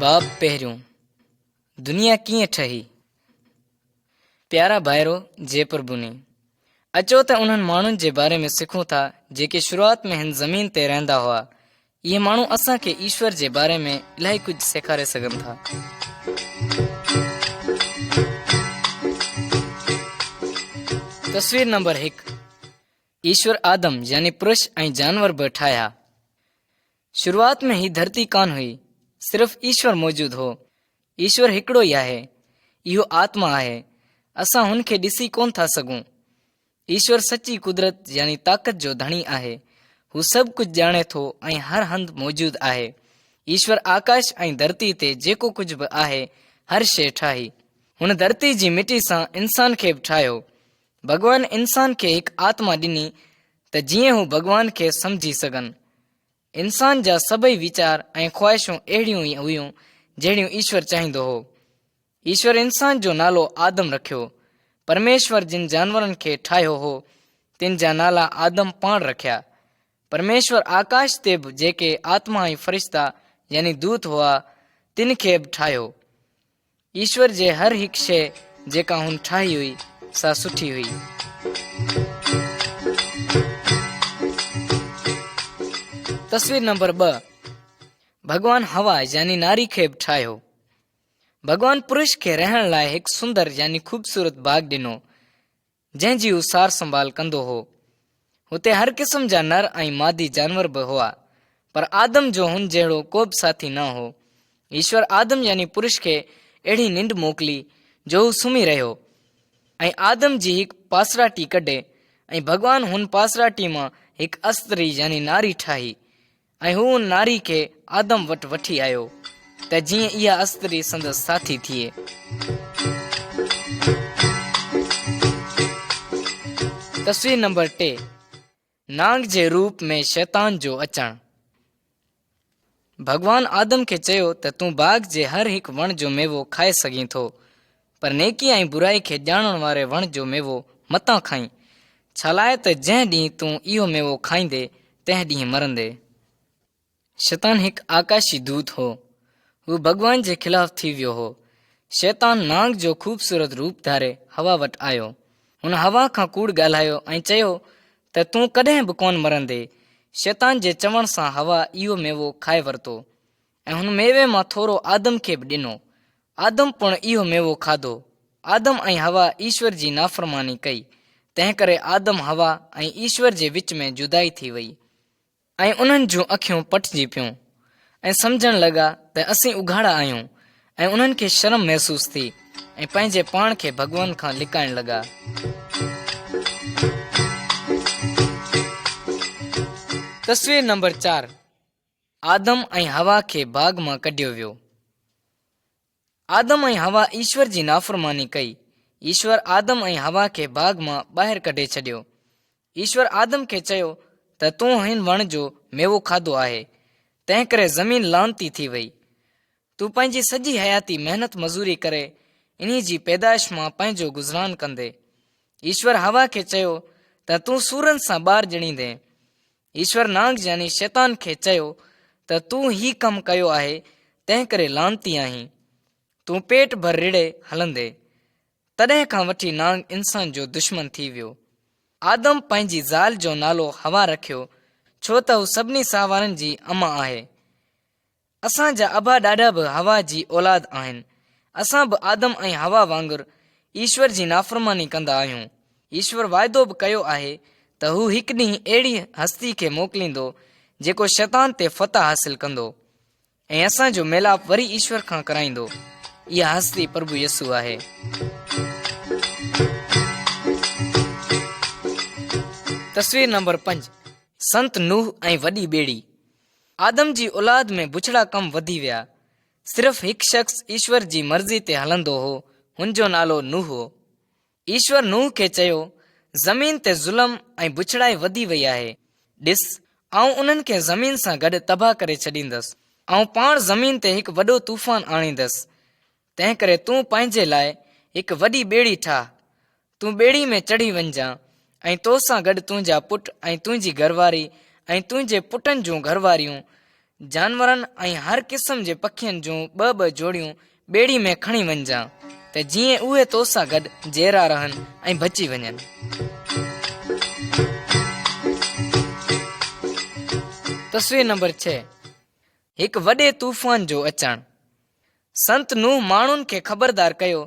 باب پهريون، دنيا ڪيئن ٺهي؟ پيارا ڀائرو جي پر بني اچو ته انهن ماڻهن جي باري ۾ سکون ٿا جيڪي شروعات ۾ هن زمين تي رهندا هئا اهي ماڻهو اسان کي ايشور جي باري ۾ الاهي ڪجهه سيکاري سگهن ٿا. تصوير نمبر هڪ ايشور آدم يعني پرش ۽ جانور به ٺاهيا. شروعات ۾ هي ڌرتي ڪانه هئي، صرف ايشور موجود هو. ايشور هڪڙو ئي آهي. اهو آتما آهي. اسان هن کي ڏسي ڪونه ٿا سگهون. ايشور سچي قدرت يعني طاقت جو ڌڻي آهي. هو سڀ ڪجهه ڄاڻي ٿو ۽ هر هنڌ موجود آهي. ايشور آڪاش ۽ ڌرتي تي جيڪو ڪجهه به آهي، هر شيء ٺاهي. هن ڌرتي جي مٽي سان انسان کي به ٺاهيو. ڀڳوان انسان کي هڪ آتما ڏني ته جيئن هو ڀڳوان کي سمجهي سگهن. انسان جا سڀئي ويچار ۽ خواهشون اهڙيون ئي هيون جهڙيون ايشور چاهيندو هو. ايشور انسان جو نالو آدم رکيو. پرميشور جن جانورن کي ٺاهيو هو، تن جا نالا آدم پاڻ رکيا. پرميشور آڪاش تي به جيڪي آتما ۽ فرشتا يعني دوت هئا، تن کي به ٺاهيو. ايشور جي هر هڪ شيء جيڪا هن ٺاهي هئي سا سٺي هئي. تصوير نمبر ٻه ڀڳوان هوا يعني ناري کي به ٺاهيو. ڀڳوان پرش کي رهڻ لاء هڪ سندر يعني خوبصورت باغ ڏنو. جنهن جي هو سار سنڀال ڪندو هو. هتي هر قسم جا نر ۽ مادي جانور به هئا، پر آدم جو هن جهڙو ڪوبه ساٿي نه هو. ايشور آدم يعني پرش کي اهڙي ننڊ موڪلي جو هو سمهي رهيو ۽ آدم جي هڪ پاسراٽي ڪڍي ۽ ڀڳوان هن پاسراٽي مان هڪ استري يعني ناري ٺاهي. ۽ هو ان ناري کي آدم وٽ وٺي آيو، ته جيئن اها استري سندس ساٿي ٿئي. تصوير نمبر ٽي، نانگ جي روپ ۾ شيطان جو اچڻ. ڀڳوان آدم کي چيو ته تون باغ جي هر هڪ وڻ جو ميوو کائي سگهين ٿو، پر نيڪي ۽ برائي کي ڄاڻڻ واري وڻ جو ميوو متان کائين، ڇالاء ته جنهن ڏينهن تون اهو ميوو کائيندين، تنهن ڏينهن مرندين. شيطان هڪ آڪاشي دوت هو. هو ڀڳوان جي خلاف ٿي ويو هو. شيطان نانگ جو خوبصورت روپ ڌاري حوا وٽ آيو. هن حوا کان ڪوڙ ڳالهايو ۽ چيو ته تون ڪڏهن به ڪونه مرندين. شيطان جي چوڻ سان حوا اهو ميوو کائي ورتو. ۽ هن ميوي مان ٿورو آدم کي به ڏنو. آدم پڻ اهو ميوو کاڌو. آدم ۽ حوا ايشور جي نافرماني ڪئي، تنهنڪري آدم، حوا ۽ ايشور جي وچ ۾ جدائي ٿي وئي. ۽ انهن جون اکيون پٽجي پيون، ۽ سمجهڻ لڳا ته اسين اگهاڙا آهيون، ۽ انهن کي شرم محسوس ٿي، ۽ پنهنجي پاڻ کي ڀڳوان کان لڪائڻ لڳا. تصوير نمبر چار. آدم ۽ حوا کي باغ مان ڪڍيو ويو. آدم ۽ حوا ايشور جي نافرماني ڪئي. ايشور آدم ۽ حوا کي باغ مان ٻاهر ڪڍي ڇڏيو. ايشور آدم کي چيو ته تون هن وڻ جو ميوو کاڌو آهي، تنهنڪري زمين لعنتي ٿي وئي. تون پنهنجي سڄي حياتي محنت مزوري ڪري انهي جي پيدائش مان پنهنجو گذران ڪندين. ايشور حوا کي چيو ته تون سورن سان ٻار ڄڻيندين. ايشور نانگ جياني شيطان کي چيو ته تون هي ڪم ڪيو آهي تنهن ڪري لعنتي آهين. تون پيٽ ڀر رڙهي هلندي. تڏهن کان وٺي نانگ انسان جو دشمن ٿي ويو. آدم پنهنجي زال جو نالو حوا رکيو ڇو ته هو سڀني ساهوارن جي اما آهي. اسان جا ابا ڏاڏا به حوا جي اولاد آهن. اسان به آدم ۽ حوا وانگر ايشور جي نافرماني ڪندا آهيون. ايشور واعدو به ڪيو آهي ته هو هڪ ڏينهن اهڙي هستي کي موڪليندو جيڪو شيطان تي فتح حاصل ڪندو ۽ اسان جو ميلاپ وري ايشور کان ڪرائيندو. اها هستي پرڀو يسوع آهي. تصوير نمبر پنج سنت نوح ۽ وڏي ٻيڙي. آدم جي اولاد ۾ بڇڙا ڪم وڌي ويا. صرف هڪ شخص ايشور جي مرضي تي هلندو هو، هن جو نالو نوح هو. ايشور نوح کي چيو، زمين تي ظلم ۽ بڇڙائي وڌي وئي آهي. ڏس، آئون انهن کي زمين سان گڏ تباهه ڪري ڇڏيندس. آئون پاڻ زمين تي هڪ وڏو طوفان آڻيندس. تنهنڪري تون پنهنجي لاء هڪ وڏي ٻيڙي ٺاهه، تون ٻيڙي ۾ چڙهي وڃجان، ۽ تو سان گڏ تنهنجا پٽ ۽ تنهنجي گهرواري ۽ تنهنجي پٽن جون گهرواريون، جانورن ۽ هر قسم جي پکين جون ٻه ٻه جوڙيون ٻيڙي ۾ کڻي وڃجان، ته جيئن اهي تو سان گڏ جيئرا رهن ۽ بچي وڃن. تصوير نمبر ڇهه، هڪ وڏي طوفان جو اچڻ. سنت نوح ماڻهن کي خبردار ڪيو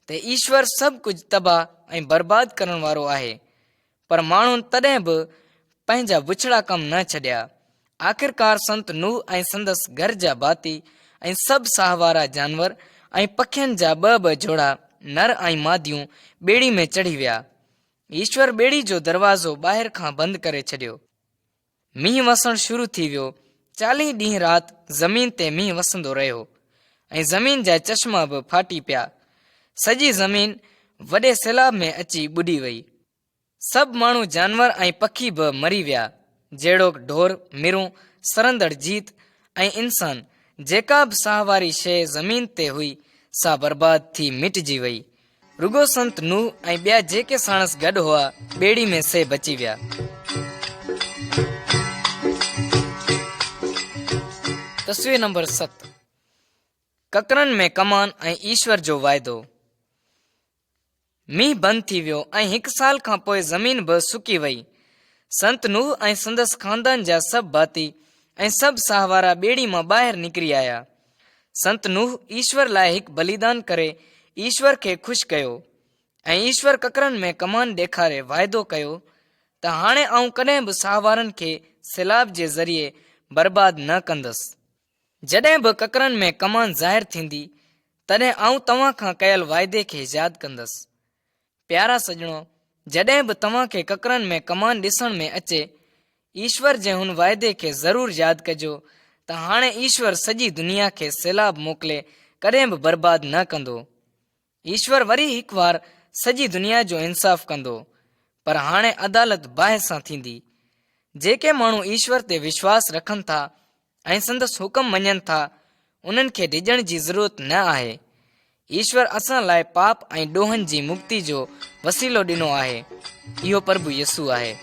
ته ايشور سڀ ڪجهه تباهه ۽ برباد ڪرڻ وارو آهي. پر ماڻهن تڏهن به پنهنجا بڇڙا ڪم نه ڇڏيا. آخرڪار سنت نوح ۽ سندس گهر جا ڀاتي ۽ سڀ ساهه وارا جانور ۽ پکين جا ٻه ٻه جوڙا نر ۽ ماديون ٻيڙي ۾ چڙهي ويا. ايشور ٻيڙي جو دروازو ٻاهر کان بند ڪري ڇڏيو. مينهن وسڻ شروع ٿي ويو. چاليهه ڏينهن رات زمين تي مينهن وسندو رهيو ۽ زمين جا چشما به ڦاٽي پيا. سڄي زمين وڏي سيلاب ۾ اچي ٻڏي وئي. سڀ ماڻهو جانور ۽ پکي به مري ويا، جهڙوڪ ڍور، مرون، سرندڙ جيت ۽ انسان. جيڪا به ساهه واري شيء زمين تي هئي، سا برباد ٿي مٽجي وئي. رڳو سنت نوح ۽ ٻيا جيڪي ساڻس گڏ هئا، ٻيڙي ۾ سي بچي ويا. تصوير نمبر ست ڪڪرن ۾ ڪمان ۽ ايشور جو واعدو مينهن بند ٿي ويو ۽ هڪ سال کان پوء زمين به سڪي وئي سنت نوح ۽ سندس خاندان جا سڀ ڀاتي ۽ سڀ ساهوارا ٻيڙي مان ٻاهر نڪري آيا سنت نوح ايشور لاء هڪ بليدان ڪري ايشور کي خوش ڪيو ۽ ايشور ڪڪرن ۾ ڪمان ڏيکاري واعدو ڪيو ته هاڻي آئون ڪڏهن به ساهوارن کي سيلاب جي ذريعي برباد نه ڪندس جڏهن به ڪڪرن ۾ ڪمان ظاهر ٿيندي تڏهن آئون توهان کان ڪيل واعدي کي ياد ڪندس پيارا سڄڻو، جڏهن به توهان کي ڪڪرن ۾ ڪمان ڏسڻ ۾ اچي، ايشور جي هن واعدي کي ضرور ياد ڪجو ته هاڻي ايشور سڄي دنيا کي سيلاب موڪلي ڪڏهن به برباد نه ڪندو. ايشور وري هڪ وار سڄي دنيا جو انصاف ڪندو، پر هاڻي عدالت باهه سان ٿيندي. جيڪي ماڻهو ايشور تي وشواس رکن ٿا، ۽ سندس حڪم مڃن ٿا، انهن کي ڊڄڻ جي ضرورت نه آهي. ايشور اسان لاء پاپ ۽ ڏوهن جي مڪتي جو وسيلو ڏنو آهي. اهو پرڀو يسوع آهي.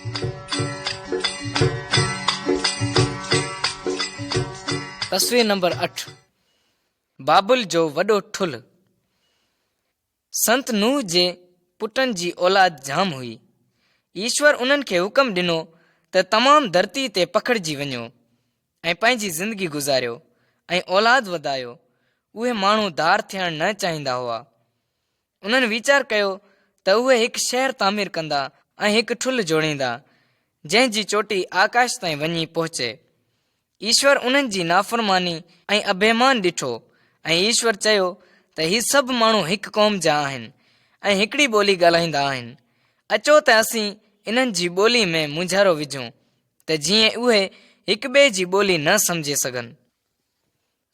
تصوير نمبر اٺ بابل جو وڏو ٺلهه سنت نوح جي پٽن جي اولاد جام هئي. ايشور انهن کي حڪم ڏنو ته تمام ڌرتي تي پکڙجي وڃو ۽ پنهنجي زندگي گذاريو ۽ اولاد وڌايو. اهي ماڻهو ڌار ٿيڻ نه چاهيندا هئا. انهن ويچار ڪيو ته اهي هڪ شهر تعمير ڪندا ۽ هڪ ٺلهه جوڙيندا، جنهن جي چوٽي آڪاش تائين وڃي پهچي. ايشور انهن جي نافرماني ۽ اڀيمان ڏٺو ۽ ايشور چيو ته هي سڀ ماڻهو هڪ قوم جا آهن ۽ هڪڙي ٻولي ڳالهائيندا آهن، اچو ته اسين انهن جي ٻولي ۾ مونجهارو وجهون ته جيئن اهي هڪ ٻئي جي ٻولي نه سمجهي سگهن.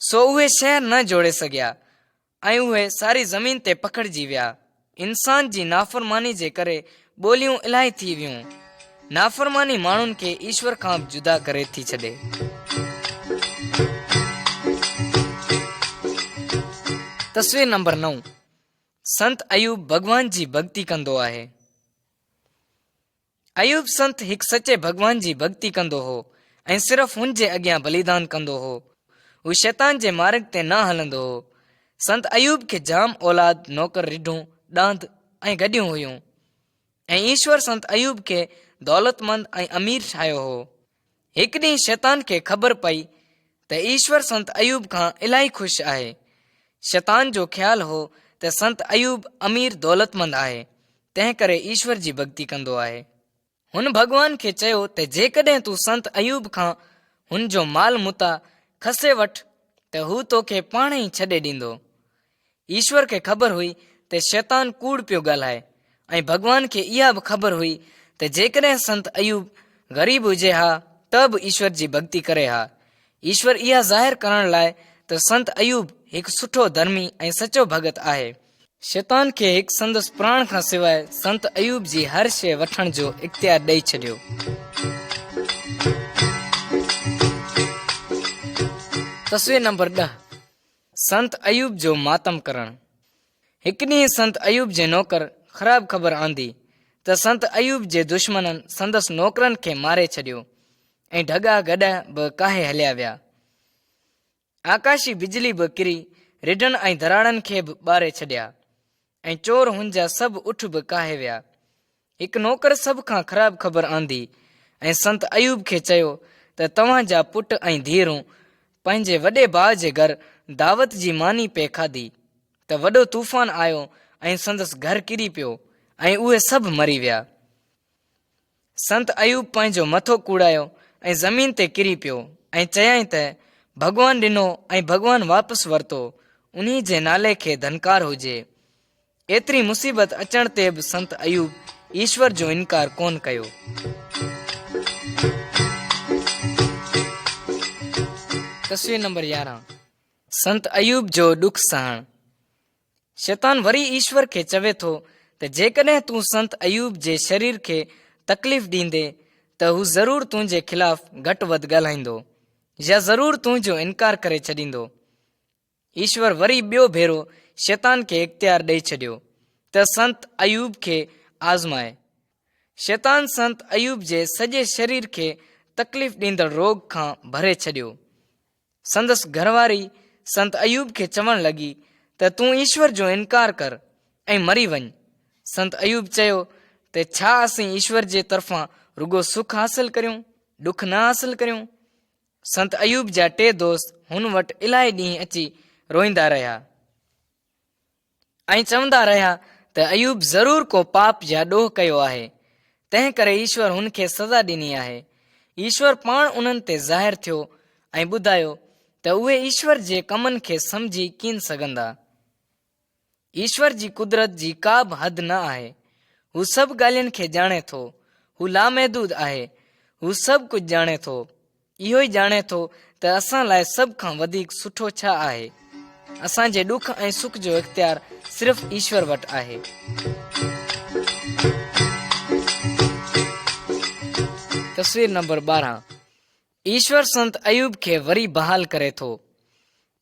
سو اهي شهر نه جوڙي سگهيا ۽ اهي ساري زمين تي پکڙجي ويا. انسان جي نافرماني جي ڪري ٻوليون الاهي ٿي ويون. نافرماني ماڻهن کي ايشور کان به جدا ڪري ٿي ڇڏي. تصوير نمبر نو، سنت ايوب ڀڳوان جي ڀڳتي ڪندو آهي. ايوب سنت هڪ سچي ڀڳوان جي ڀڳتي ڪندو هو ۽ صرف هن جي اڳيان بليدان ڪندو هو. هو شيطان جي مارڳ تي نه هلندو هو. سنت ايوب کي جام اولاد، نوڪر، رڍون، ڏاند ۽ گڏيون هيون ۽ ايشور سنت ايوب کي دولتمند ۽ امير ٺاهيو هو. هڪ ڏينهن شيطان کي خبر پئي ته ايشور سنت ايوب کان الاهي خوش آهي. شيطان جو خيال هو ته سنت ايوب امير دولتمند آهي، تنهنڪري ايشور جي ڀڳتي ڪندو آهي. هن ڀڳوان کي چيو ته جيڪڏهن تون سنت ايوب کان هن جو مال متاع کسي وٺ ته هو توکي پاڻهئي ڇڏي ڏيندو. ايشور کي خبر هئي ته شيطان ڪوڙ پيو ڳالهائي ۽ ڀڳوان کي اها به خبر هئي ته جيڪڏهن سنت ايوب غريب هجي ها ته به ايشور جي ڀڳتي ڪري ها. ايشور اها ظاهر ڪرڻ لاء ته سنت ايوب هڪ سٺو ڌرمي ۽ سچو ڀڳت آهي، شيطان کي هڪ سندس پراڻ کان سواء سنت ايوب جي هر شيء وٺڻ جو اختيار ڏئي ڇڏيو. تصوير نمبر ڏهه سنت ايوب جو ماتم ڪرڻ. هڪ ڏينهن سنت ايوب جي نوڪر خراب خبر آندي ته سنت ايوب جي دشمنن سندس نوڪرن کي ماري ڇڏيو ۽ ڍڳا گڏهه به ڪاهي هليا ويا. آڪاشي بجلي به ڪري رڍن ۽ ڌراڙن کي به ٻاري ڇڏيا. ۽ چور هن جا سڀ اٺ به ڪاهي ويا. هڪ نوڪر سڀ کان خراب خبر آندي ۽ سنت ايوب کي چيو ته توهان جا پٽ ۽ ڌيئرون پنهنجي وڏي ڀاء جي گهر دعوت جي ماني پئي کاڌي ته وڏو طوفان آيو ۽ سندس گهر ڪري پيو ۽ اهي سڀ مري ويا. سنت ايوب پنهنجو مٿو ڪوڙايو ۽ زمين تي ڪري پيو ۽ چيائين ته، ڀڳوان ڏنو ۽ ڀڳوان واپس ورتو، انهي جي نالي کي ڌنڪار هجي. ايتري مصيبت اچڻ تي به سنت ايوب ايشور جو انڪار ڪونه ڪيو. تصوير نمبر يارهن سنت ايوب جو ڏک سهڻ. شيطان وري ايشور کي چوي ٿو ته جيڪڏهن تون سنت ايوب جي شرير کي تڪليف ڏيندين ته هو ضرور تنهنجي خلاف گهٽ وڌ ڳالهائيندو يا ضرور تنهنجو انڪار ڪري ڇڏيندو. ايشور وري ٻيو ڀيرو شيطان کي اختيار ڏئي ڇڏيو ته سنت ايوب کي آزمائي. شيطان سنت ايوب جي سڄي شرير کي تڪليف ڏيندڙ روڳ کان ڀري ڇڏيو. سندس گهر واري سنت ايوب کي چوڻ لڳي ته تون ايشور جو انڪار ڪر ۽ مري وڃ. سنت ايوب چيو ته ڇا اسين ايشور جي طرفان رڳو سک حاصل ڪريون، ڏک نه حاصل ڪريون؟ سنت ايوب جا ٽي دوست هن وٽ الاهي ڏينهن اچي روئيندا رهيا. ائين چوندا رهيا ته ايوب ضرور ڪو پاپ يا ڏوهه ڪيو آهي، تنهن ڪري ايشور هن کي سزا ڏني آهي. ايشور پاڻ انهن تي ظاهر ٿيو ۽ ٻڌايو ته اهي ايشور جي ڪمن کي سمجهي ڪين سگهندا. ايشور جي قدرت جي ڪا به حد نه آهي. هو سڀ ڳالهين کي ڄاڻي ٿو. هو لامحدود آهي. هو سڀ ڪجهه ڄاڻي ٿو. اهو ئي ڄاڻي ٿو ته اسان لاء سڀ کان وڌيڪ سٺو ڇا آهي. اسان جي ڏک ۽ سک جو اختيار صرف ايشور وٽ آهي. تصوير نمبر ٻارهن ايشور سنت ايوب کي وري بحال ڪري ٿو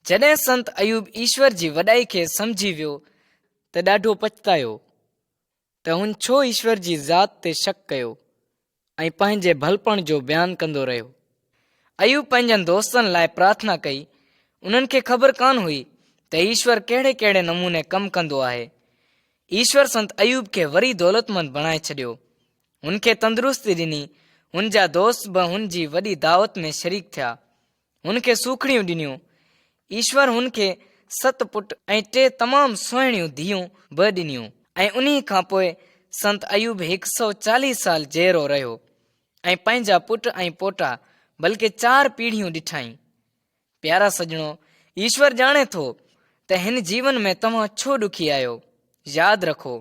جڏهن سنت ايوب ايشور جي وڏائي کي سمجهي ويو ته ڏاڍو پڇتايو ته هن ڇو ايشور جي ذات تي شڪ ڪيو ۽ پنهنجي ڀلپڻ جو بيان ڪندو رهيو. ايوب پنهنجن دوستن لاء پرارٿنا ڪئي. انهن کي خبر ڪانه هئي ته ايشور ڪهڙي ڪهڙي نموني ڪم ڪندو آهي. ايشور سنت ايوب کي وري دولتمند بڻائي ڇڏيو. هن کي تندرستي ڏني. هن جا دوست به هن جي وڏي دعوت ۾ شريڪ ٿيا. هن کي سوکڙيون ڏنيون. ايشور هن کي ست پٽ ۽ ٽي تمام سهڻيون ڌيئون به ڏنيون ۽ انهي کان پوء سنت ايوب هڪ سؤ چاليهه سال جيئرو رهيو ۽ پنهنجا پٽ ۽ پوٽا بلڪه چار پيڙهيون ڏٺائين. پيارا سڄڻو، ايشور ڄاڻي ٿو ته هن جيون ۾ توهان ڇو ڏکي آهيو. ياد رکو،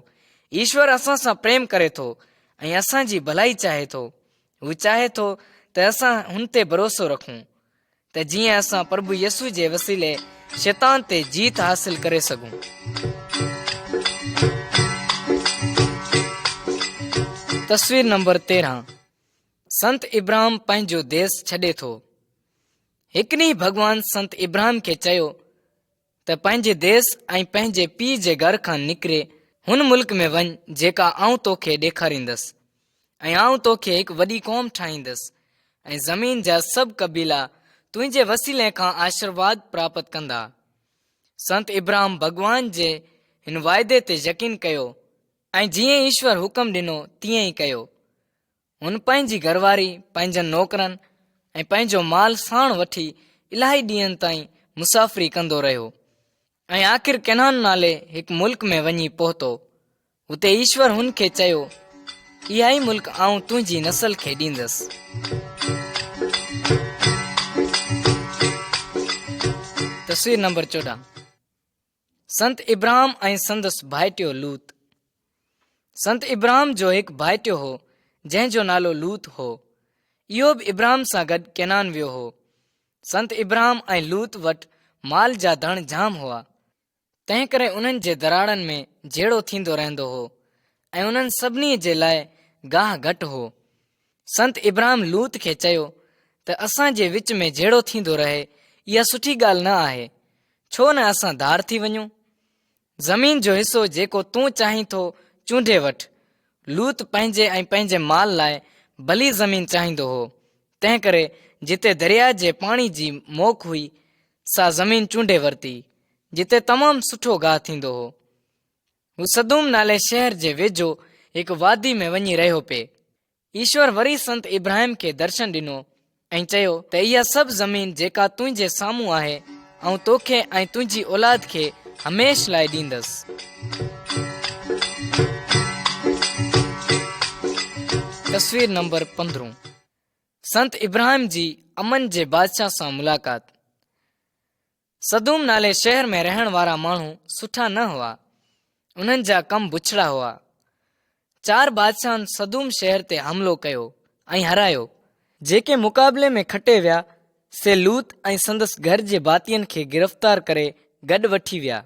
ايشور اسان سان پريم ڪري ٿو ۽ اسان جي ڀلائي چاهي ٿو. هو چاهي ٿو ته اسان هن تي ڀروسو رکون ته جيئن اسان پرڀو يسو جي وسيلي شيطان تي جيت حاصل ڪري سگھون تصوير نمبر تيرهن سنت ابراهيم پنهنجو ديس ڇڏي ٿو هڪ ڏينهن ڀڳوان سنت ابراهيم کي چيو ته پنهنجي ديس ۽ پنهنجي پيء جي گهر کان نڪري هن ملڪ ۾ وڃ جيڪا آئون تو کي ڏيکاريندس ۽ آئون تو کي هڪ وڏي قوم ٺاهيندس ۽ زمين جا سڀ قبيلا تنهنجي وسيلي کان آشرواد پراپت ڪندا. سنت ابراهم ڀڳوان جي هن واعدي تي يقين ڪيو ۽ جيئن ايشور حڪم ڏنو تيئن ئي ڪيو. هن پنهنجي گهر واري، پنهنجن نوڪرن ۽ پنهنجو مال ساڻ وٺي الاهي ڏينهن تائين مسافري ڪندو رهيو ۽ آخر ڪنعان نالي هڪ ملڪ ۾ وڃي پهتو. هتي ايشور هن کي چيو، اها ئي ملڪ آئون تنهنجي نسل کي ڏيندس. تصوير نمبر چوڏهن سنت ابراهم ۽ سندس ڀائٽيو لوط، سنت ابراهم جو هڪ ڀائٽيو هو، جنهن جو نالو لوط هو. اهو به ابراهم سان گڏ ڪينان ويو هو. سنت ابراهم ۽ لوط وٽ مال جا ڌڻ جام هئا، تنهنڪري انهن جي دراڙن ۾ جهيڙو ٿيندو رهندو هو ۽ انهن سڀني جي لاء گاهه گهٽ هو. سنت ابراهم لوط کي چيو ته اسان جي وچ ۾ جهيڙو ٿيندو رهي اها سٺي ڳالهه نه آهي ڇو نه اسان ڌار ٿي وڃون زمين جو حصو جيڪو تون چاهين ٿو چونڊي وٺ لوط پنهنجي ۽ پنهنجي مال لاء ڀلي زمين چاهيندو هو تنهن ڪري جتي درياء جي پاڻي جي موڪ هئي سا زمين چونڊي ورتي جتي تمام سٺو گاهه ٿيندو هو هو سدوم نالي شهر جي ويجهو هڪ وادي ۾ وڃي رهيو پي. ايشور وري سنت ابراهيم کي درشن ڏنو ۽ چيو ته اها سڀ زمين جيڪا تنهنجي سامهون آهي، آئون توکي ۽ تنهنجي اولاد کي هميشھ لاء ڏيندس. تصوير نمبر پندرهون سنت ابراهيم جي امن جي بادشاهه سان ملاقات. سدوم نالي شهر ۾ رهڻ وارا ماڻهو سٺا نه هئا انهن جا ڪم بڇڙا هئا چار بادشاهن سدوم شهر تي حملو ڪيو ۽ هرايو جيڪي مقابلي ۾ کٽي ويا سي لوط ۽ سندس گهر جي ڀاتين کي گرفتار ڪري گڏ وٺي ويا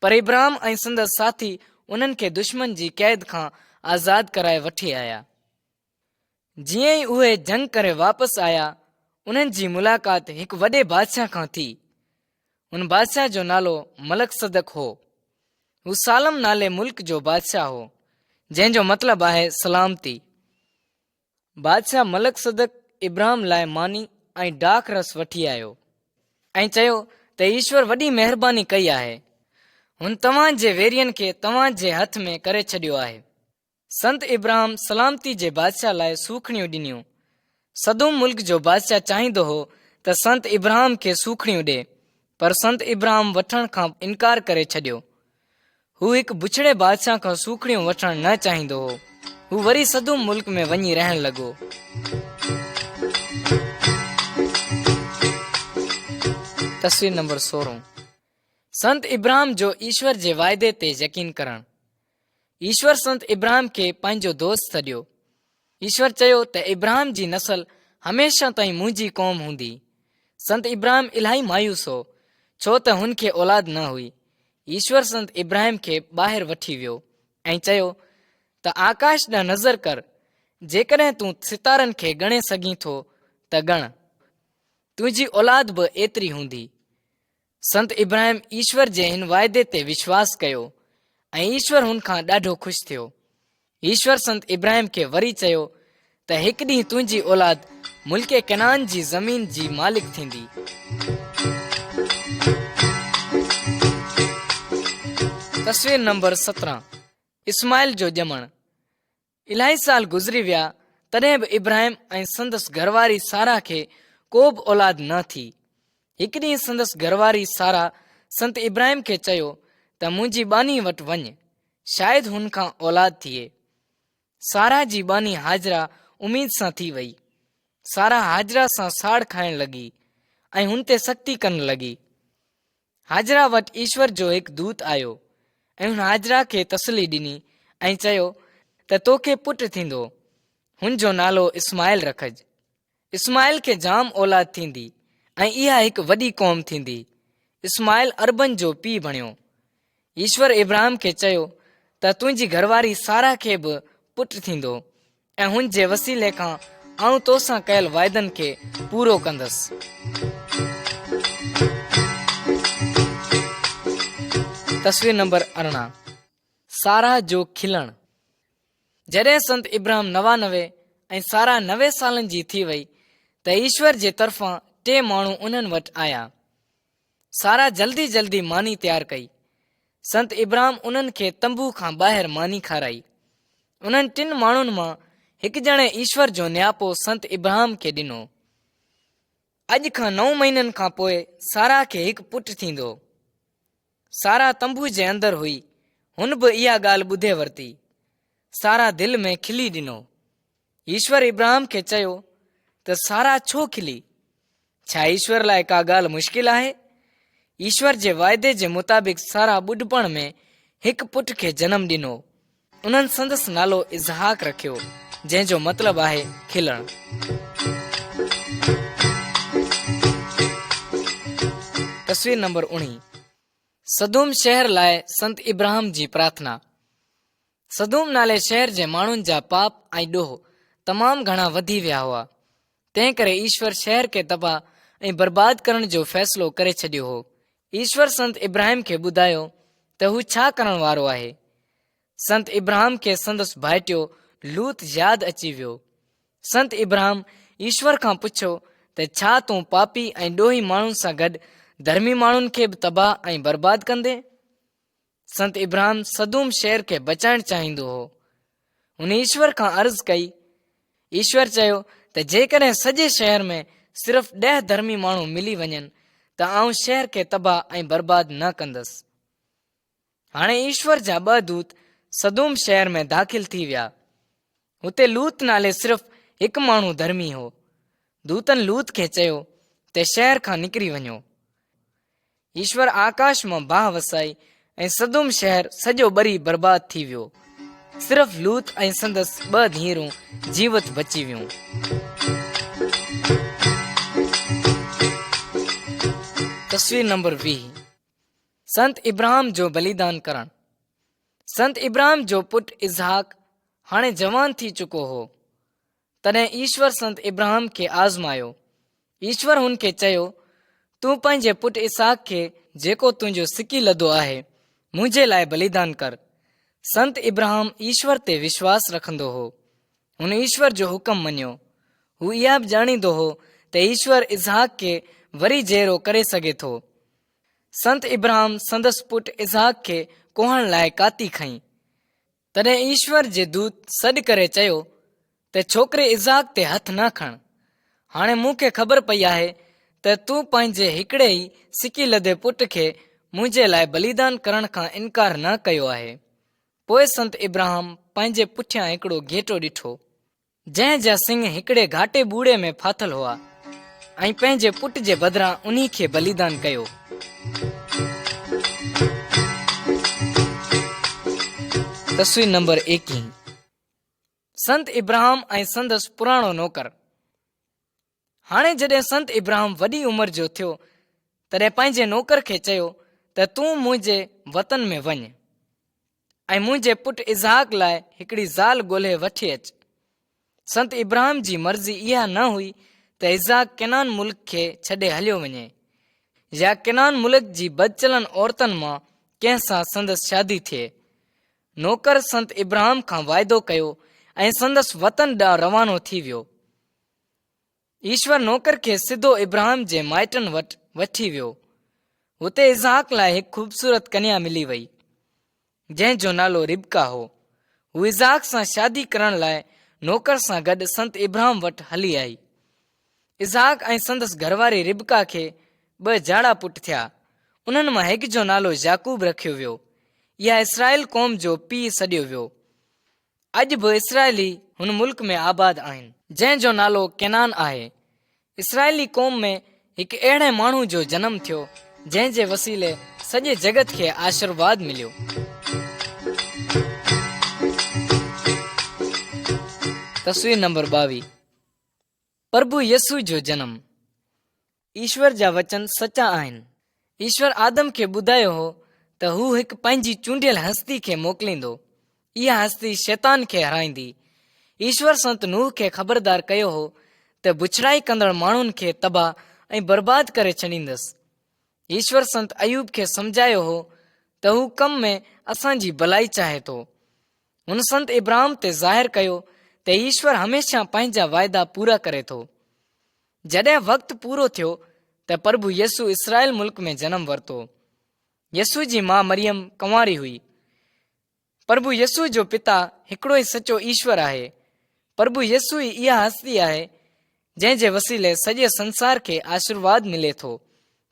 پر ابراهيم ۽ سندس ساٿي انهن کي دشمن جي قيد کان آزاد ڪرائي وٺي آيا جيئن ئي اهي جنگ ڪري واپس آيا انهن جي ملاقات هڪ وڏي بادشاهه کان ٿي ان بادشاهه جو نالو ملڪ صدق هو هو سالم نالي ملڪ جو بادشاهه هو جنهن جو مطلب آهي سلامتي بادشاهه ملڪ صدق ابراهيم لاء ماني ۽ ڊاک رس وٺي آيو ۽ چيو ته ايشور وڏي مهرباني ڪئي آهي هن توهان جي ويرين کي توهان جي هٿ ۾ ڪري ڇڏيو آهي سنت ابراهم سلامتي جي بادشاهه لاء سوکڙيون ڏنيون. سدوم ملڪ جو بادشاهه چاهيندو هو ته سنت ابراهم کي سوکڙيون ڏي، پر سنت ابراهم وٺڻ کان انڪار ڪري ڇڏيو. هو هڪ بڇڙي بادشاهه کان سوکڙيون وٺڻ نه چاهيندو هو. هو وري سدوم ملڪ ۾ وڃي رهڻ لڳو. تصوير نمبر سورهن سنت ابراهم جو ايشور جي واعدي تي يقين ڪرڻ. ايشور سنت ابراهيم کي پنهنجو دوست سڏيو ايشور چيو ته ابراهيم جي نسل هميشه تائين منهنجي قوم هوندي سنت ابراهيم الاهي مايوس هو ڇو ته هن کي اولاد نه هئي ايشور سنت ابراهيم کي ٻاهر وٺي ويو ۽ چيو ته آڪاش ڏانهن نظر ڪر جيڪڏهن تون ستارن کي ڳڻي سگهين ٿو ته ڳڻ تنهنجي اولاد به ايتري هوندي سنت ابراهيم ايشور جي هن واعدي تي وشواس ڪيو ۽ ايشور هن کان ڏاڍو خوش ٿيو ايشور سنت ابراهيم کي وري چيو ته هڪ ڏينهن تنهنجي اولاد ملڪ ڪنان جي زمين جي مالڪ ٿيندي تصوير نمبر سترهن اسماعيل جو ڄمڻ الاهي سال گذري ويا تڏهن به ابراهيم ۽ سندس گهرواري سارا کي ڪو به اولاد نه ٿي هڪ ڏينهن سندس گهرواري سارا سنت ابراهيم کي چيو ته منهنجي ٻانهي وٽ وڃ شايد هن کان اولاد ٿئي سارا جي ٻانهي حاضرا اميد سان ٿي وئي سارا حاضرا سان ساڙ کائڻ لڳي ۽ هن تي سختي ڪرڻ لڳي هاجره وٽ ايشور جو هڪ دوت آيو ۽ هن هاجره کي تسلي ڏني ۽ چيو ته تو کي پٽ ٿيندو هن جو نالو اسماعيل رکج اسماعيل کي جام اولاد ٿيندي ۽ اها هڪ وڏي قوم ٿيندي اسماعيل اربن جو پيء بڻيو ايشور ابراهيم کي چيو ته تنهنجي گهرواري سارا کي به پٽ ٿيندو ۽ هن جي وسيلي کان آئون توسان ڪيل واعدن کي پورو ڪندس تصوير نمبر ارڙهن سارا جو کلڻ جڏهن سنت ابراهيم نوانوي ۽ سارا نوي سالن جي ٿي وئي ته ايشور جي طرفان ٽي ماڻهو انهن وٽ آيا سارا جلدي جلدي ماني تيار ڪئي. سنت ابرام انهن کي تنبو کان ٻاهر ماني کارائي. انهن ٽن ماڻهن مان هڪ ڄڻي ايشور جو نياپو سنت ابرام کي ڏنو. اڄ کان نو مهينن کان پوء سارا کي هڪ پٽ ٿيندو. سارا تنبو جي اندر هئي. هن به اها ڳالهه ٻڌي ورتي. سارا دل ۾ کلي ڏنو. ايشور ابراهيم کي چيو ته سارا ڇو کلي ڇا ايشور لاء ڪا ڳالهه مشڪل آهي ايشور جي واعدي جي مطابق سارا ٻڍپڻ ۾ هڪ پٽ کي جنم ڏنو انهن سندس نالو اظهاق رکيو جنهن جو مطلب آهي کلڻ تصوير نمبر اڻي سدوم شهر لاء سنت ابراهيم جي پرارٿنا سدوم نالي شهر جي ماڻهن جا پاپ ۽ ڏوهه تمام گهڻا وڌي ويا هئا، تنهنڪري ايشور شهر کي تباهه ۽ برباد ڪرڻ جو فيصلو ڪري ڇڏيو هو. ايشور سنت ابراهيم کي ٻڌايو ته هو ڇا ڪرڻ وارو آهي. سنت ابراهيم کي سندس ڀائٽيو لوط ياد اچي ويو. سنت ابراهيم ايشور کان پڇيو ته ڇا تون پاپي ۽ ڏوهي ماڻهن سان گڏ ڌرمي ماڻهن کي به تباهه ۽ برباد ڪندين؟ سنت ابراهيم صدوم شهر کي بچائڻ چاهيندو هو هن ايشور کان عرض ڪئي ايشور چيو ته جيڪڏهن سڄي شهر ۾ صرف ڏهه ڌرمي ماڻهو ملي وڃن ته آئون شهر کي تباهه ۽ برباد نه ڪندس هاڻي ايشور جا ٻه دوت صدوم شهر ۾ داخل ٿي ويا هتي لوت نالي صرف هڪ ماڻهو ڌرمي هو دوتن لوت کي چيو ته شهر کان نڪري وڃو ايشور آڪاش مان باهه وسائي ۽ سدوم شهر سڄو ٻري برباد ٿي ويو صرف لوت ۽ سندس ٻه ڌيئرون جيوت بچي ويون تصوير نمبر ويهه سنت ابراهام جو بليدان ڪرڻ سنت ابراهام جو پٽ اظهاق هاڻي جوان ٿي چڪو هو تڏهن ايشور سنت ابراهام کي آزمايو. ايشور هن کي چيو، تون پنهنجي پٽ اسحاق کي جيڪو تنهنجو سڪي لڌو آهي، منهنجي لاء بليدان ڪر. سنت ابراهام ايشور تي وشواس رکندو هو. هن ايشور جو حڪم مڃيو. هو اها به ڄاڻيندو هو ته ايشور اسحاق کي وري جيئرو ڪري سگهي ٿو. سنت ابراهام سندس پٽ اسحاق کي ڪوهڻ لاء ڪاتي کنئي. تڏهن ايشور جي دوت سڏ ڪري چيو ته ڇوڪري اسحاق تي هٿ نه کڻ. هاڻي مون کي خبر پئي آهي ته تون پنهنجي هڪڙي ئي سڪي لڌي پٽ کي منهنجي لاء بليدان ڪرڻ کان انڪار نه ڪيو آهي. پوء سنت ابراهام پنهنجي پٺيان هڪڙو گهيٽو ڏٺو. جنهن جا سڱ هڪڙي گهاٽي ٻوڙي ۾ ڦاٿل هئا ۽ پنهنجي پٽ جي بدران انهي کي بليدان ڪيو. تصوير نمبر ايڪيهه سنت ابراهام ۽ سندس پراڻو نوڪر. هاڻي جڏهن سنت ابراهم وڏي عمر جو ٿيو تڏهن پنهنجي نوڪر کي چيو ته تون منهنجي وطن ۾ وڃ ۽ منهنجي پٽ اظهاق لاء هڪڙي زال ڳولهي وٺي اچ سنت ابراهم جي مرضي اها نه هئي ته اظهاق ڪنان ملڪ کي ڇڏي هليو وڃي يا ڪنان ملڪ جي بدچلن عورتن مان ڪنهن سان سندس شادي ٿئي نوڪر سنت ابراهم کان واعدو ڪيو ۽ سندس وطن ڏانهن روانو ٿي ويو ايشور نوڪر کي سڌو ابراهيم جي مائٽن وٽ وٺي ويو اتي اسحاق لاء هڪ خوبصورت ڪنيا ملي وئي جنهن جو نالو ربڪا هو هو اسحاق سان شادي ڪرڻ لاء نوڪر سان گڏ سنت ابراهيم وٽ هلي آئي اسحاق ۽ سندس گهرواري ربڪا کي ٻه جاڙا پٽ ٿيا انهن مان هڪ جو نالو يعقوب رکيو ويو يا اسرائيل قوم جو پيء سڏيو ويو اڄ به اسرائيلي هن ملڪ ۾ آباد آهن، جنهن جو نالو ڪينان آهي. اسرائيلي قوم ۾ هڪ اهڙي ماڻهو جو جنم ٿيو، جنهن جي وسيلي سڄي جڳت کي آشرواد مليو. تصوير نمبر ٻاويهه، پرڀو يسوع جو جنم. ايشور جا وچن سچا آهن. ايشور آدم کي ٻڌايو هو ته هو هڪ پنهنجي چونڊيل هستي کي موڪليندو. اها هستي شيطان کي هرائيندي. ايشور سنت نوح کي خبردار ڪيو هو ته بڇڙائي ڪندڙ ماڻهن کي تباهه ۽ برباد ڪري ڇڏيندس. ايشور سنت ايوب کي سمجهايو هو ته هو ڪم ۾ اسان جي ڀلائي چاهي ٿو. هن سنت ابراهم تي ظاهر ڪيو ته ايشور هميشه پنهنجا واعدا پورا ڪري ٿو جڏهن وقت پورو ٿيو ته پرڀو يسو اسرائيل ملڪ ۾ جنم ورتو يسو جي ماء مريم ڪنواري هئي پرڀو يسو جو پتا هڪڙو ئي سچو ايشور آهي پرڀو يسو ئي اها هستي آهي جنهن جي وسيلي سڄي سنسار کي آشرواد ملي ٿو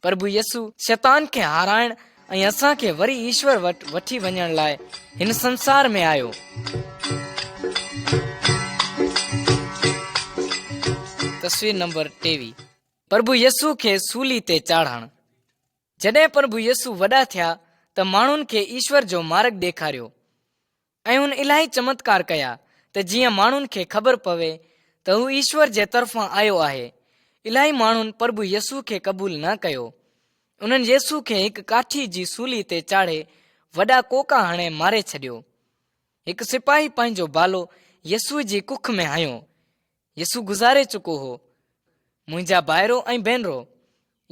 پرڀو يسو شيطان کي هارائڻ ۽ اسان کي وري ايشور وٽ وٺي وڃڻ لاء هن سنسار ۾ آيو تصوير نمبر ٽيوي پرڀو يسو کي سولي تي چاڙهڻ جڏهن پرڀو يسو وڏا ٿيا ته ماڻهن کي ايشور جو مارگ ڏيکاريو ۽ هن الاهي چمتڪار ڪيا ته جيئن ماڻهن کي خبر پوي ته هو ايشور جي طرفان آيو آهي. الاهي ماڻهن پرڀو يسوع کي قبول نه ڪيو. انهن يسوع کي هڪ ڪاٺي جي سولي تي چاڙهي وڏا ڪوڪا هڻي ماري ڇڏيو. هڪ سپاهي پنهنجو بالو يسوع جي ڪک ۾ هنيو. يسوع گذاري چڪو هو منهنجا ڀائرو ۽ ڀينرو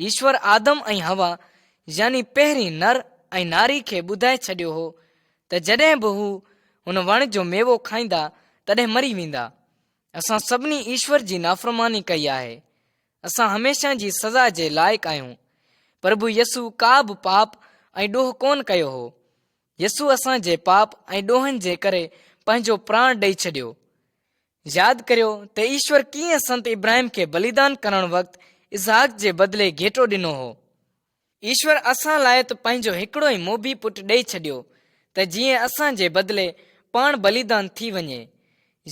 ايشور آدم ۽ هوا يعني پهرين نر ۽ ناري کي ٻڌائي ڇڏيو هو ته جڏهن به هو ان وڻ جو ميوو کائيندا تڏهن مري ويندا اسان سڀني ايشور جي نافرماني ڪئي آهي اسان هميشه جي سزا جي لائق آهيون پرڀو يسو ڪا به پاپ ۽ ڏوهه ڪون ڪيو هو يسو اسان جي پاپ ۽ ڏوهن جي ڪري پنهنجو پراڻ ڏئي ڇڏيو ياد ڪريو ته ايشور ڪيئن سنت ابراهيم کي بليدان ڪرڻ وقت اسحاق جي بدلي گهيٽو ڏنو هو. ايشور اسان لاء ته پنهنجو هڪڙو ئي موڀي پٽ ڏئي ڇڏيو ته جيئن اسان جي بدلي پاڻ بليدان ٿي وڃي.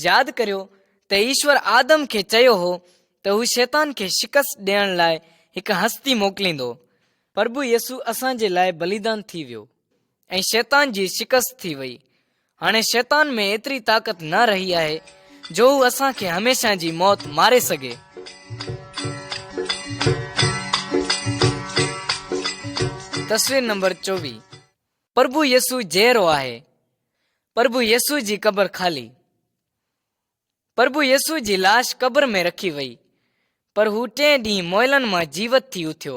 ياد ڪريو ته ايشور آدم کي چيو هو ته هو شيطان کي شڪست ڏيڻ لاء هڪ هستي موڪليندو. پرڀو يسوع اسان جي لاء بليدان ٿي ويو. ۽ شيطان جي شڪست ٿي وئي هاڻي شيطان ۾ ايتري طاقت نه رهي آهي جو هو اسان کي هميشه جي موت ماري سگهي تصوير نمبر چوي پرڀو يسو جيرو آهي پرڀو يسو جي قبر خالي پرڀو يسوع جي لاش قبر ۾ رکي وئي، پر هو ٽئين ڏينهن مئلن مان جيوت ٿي اٿيو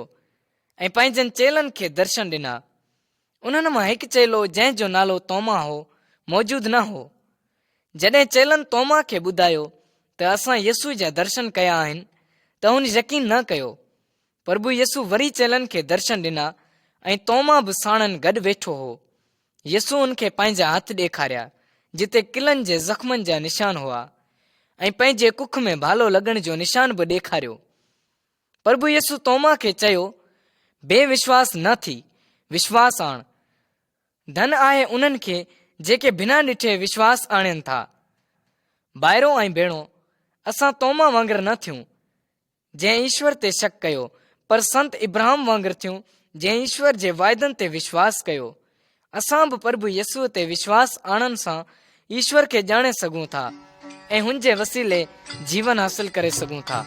۽ پنهنجن چيلن کي درشن ڏنا. انهن مان هڪ چيلو جنهن جو نالو توما هو، موجود نه هو. جڏهن چيلن توما کي ٻڌايو ته اسان يسوع جا درشن ڪيا آهن ته هن يقين نه ڪيو. پرڀو يسو وري چيلن کي درشن ڏنا ۽ توما به ساڻن گڏ ويٺو هو يسو ان کي پنهنجا هٿ ڏيکاريا جتي قلعن جي زخمن جا نشان هئا ۽ پنهنجي ڪک ۾ ڀالو لڳڻ جو نشان به ڏيکاريو پرڀو يسو توما کي چيو بي وشواس نه ٿي وشواس آڻ ڌن آهي انهن کي جيڪي بنا ڏٺي وشواس آڻين ٿا ڀائرو ۽ ڀيڻو اسان توما وانگر نه ٿيون جنهن ايشور تي شڪ ڪيو پر سنت ابراهم وانگر ٿيون جنهن ايشور جي واعدن تي وشواس ڪيو اسان به پرڀو يسوع تي وشواس آڻن سان ايشور کي ڄاڻي سگهون ٿا ۽ هن جي وسيلي جيون حاصل ڪري سگهون ٿا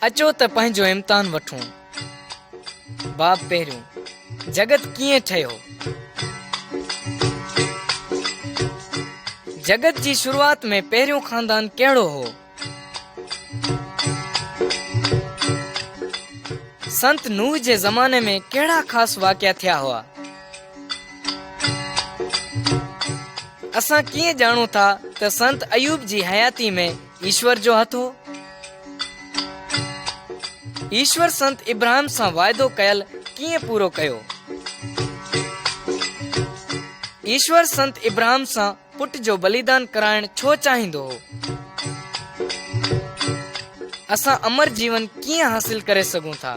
اچو ته پنهنجو امتحان وٺون باب پهريون، جڳت ڪيئن ٺهيو؟ جڳت جي شروعات ۾ پهريون خاندان ڪهڙو هو؟ سنت نوح جي زماني ۾ ڪهڙا خاص واقعا ٿيا هئا؟ اسان ڪيئن ڄاڻون ٿا ته سنت ايوب جي حياتي ۾ ايشور جو هٿ هو. ايشور سنت ابراهيم سان واعدو ڪيل ڪيئن پورو ڪيو؟ ايشور سنت ابراهيم سان پٽ جو بليدان ڪرائڻ ڇو چاهيندو هو؟ اسان امر جيون ڪيئن حاصل ڪري سگهون ٿا؟